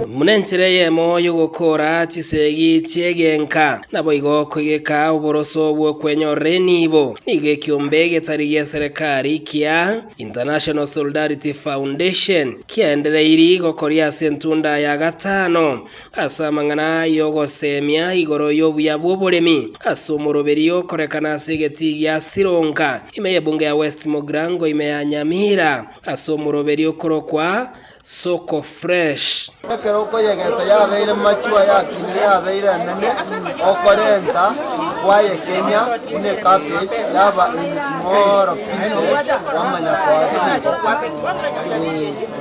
Buna enchera eyemo y'ogokoora chisegi chi'egenka, naboigo kwegeka oboroso bw'okwenyorera enibo, nigo ekiombe getari gi'eserekari kia International Solidarity Foundation kiaendereiri gokoria ase entunda ya gatano. Ase amang'ana aa y'ogoseemia igoro y'obuya bw'oboremi ase omoroberio okorekana ase egetii gia Sironga, ime y'ebunge ya West Mogrango ime ya Nyamira ase omoroberio okorokwa Soko Fresh. Ekero okoyegesa yabeire machwo ayakinire yabeire enene okorenta kwayekenya buna ecabbage yaba in small pieces wamanya koa chingoko.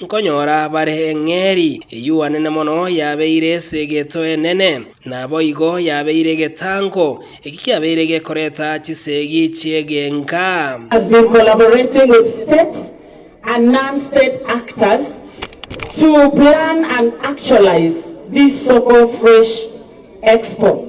Nkonyora bare eng'eeri eyuanene mono yabeire ase egeto enene, naboigo yabeire egetango, eki kiabeire gekoreta chisegi chi'egenka. has been collaborating with state and non-state actors to plan and actualize this Soko Fresh Expo.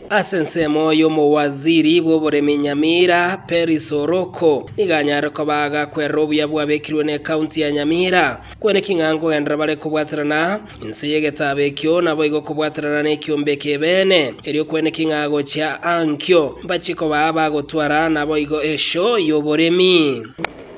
Ase ensemo y'omowaziri bw'oboremi Nyamira, Peris Oroko, nigo anyare koba agakwerera obuya bwabekirwe n'ekaunti ya Nyamira. Kwene ki ng'a nkogenderera bare kobwaterana inse y'egetabo ekio naboigo kobwaterana nekiombe ekebeene? Erio kwene ki ng'a gochia aa nkio mbachie kobaa abagotwara naboigo esho y'oboremi?